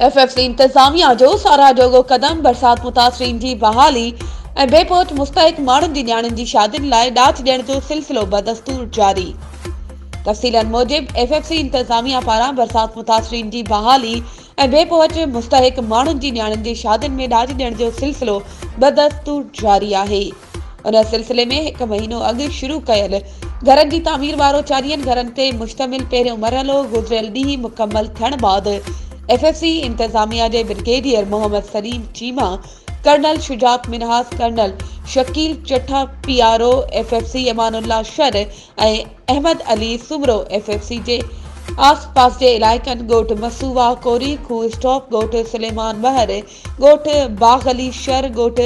F F C انتظاميا جو ساراهه جوڳو قدم برسات متاثرين جي بحالي ۽ بي پهچ مستحق ماڻهن جي نياڻين جي شادين لاء ڏات ڏيڻ جو سلسلو بدستور جاري تفصيلن موجب ايف ايف سي انتظاميا پاران برسات متاثرين جي بحالي ۽ بي پهچ مستحق ماڻهن جي نياڻين جي شادين ۾ ڏاج ڏيڻ جو سلسلو بدستور جاري آهي ان سلسلي ۾ هڪ مهينو اڳ شروع ڪيل گهرن جي تعمير وارو چاليهن گهرن تي مشتمل پهريون مرحلو گذريل ڏينهن مڪمل ٿيڻ بعد ايف ايف سي انتظاميا جي brigadier Muhammad Saleem Cheema colonel Shujaat Minhas colonel Shakeel Chatha P R O F F C امان الله Shar ۽ Ahmed Ali Soomro F F C جي آس پاس جي علائقن ڳوٺ مسووا، ڪوري کوهه اسٽاپ، ڳوٺ سليمان ٻهر، ڳوٺ باغ علي شر، ڳوٺ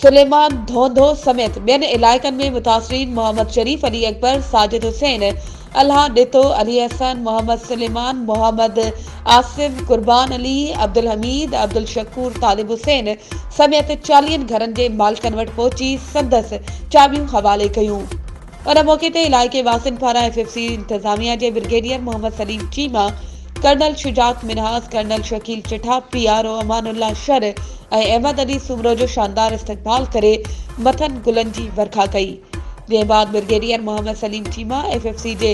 سليمان ڌونڌو سميت ٻين علائقن ۾ متاثرين محمد شريف، علي اڪبر، ساجد حسين، الهه ڏتو، علي احسن، محمد سليمان، محمد. آصف، قربان علي، عبدالحميد، عبدالشڪور طالب حسين سميت چاليهن گهرن جي مالڪن وٽ پهچي سندس چاٻيون حوالي ڪيون. ان موقعي تي علائقي واسين پاران ايف ايف سي انتظاميا جي brigadier Muhammad Saleem Cheema, colonel Shujaat Minhas, colonel Shakeel Chatha, P R O امان الله شر ۽ احمد علي سومرو جو شاندار استقبال ڪري مٿن گلن جي ورکا ڪئي. جنهن بعد brigadier Muhammad Saleem Cheema F F C جي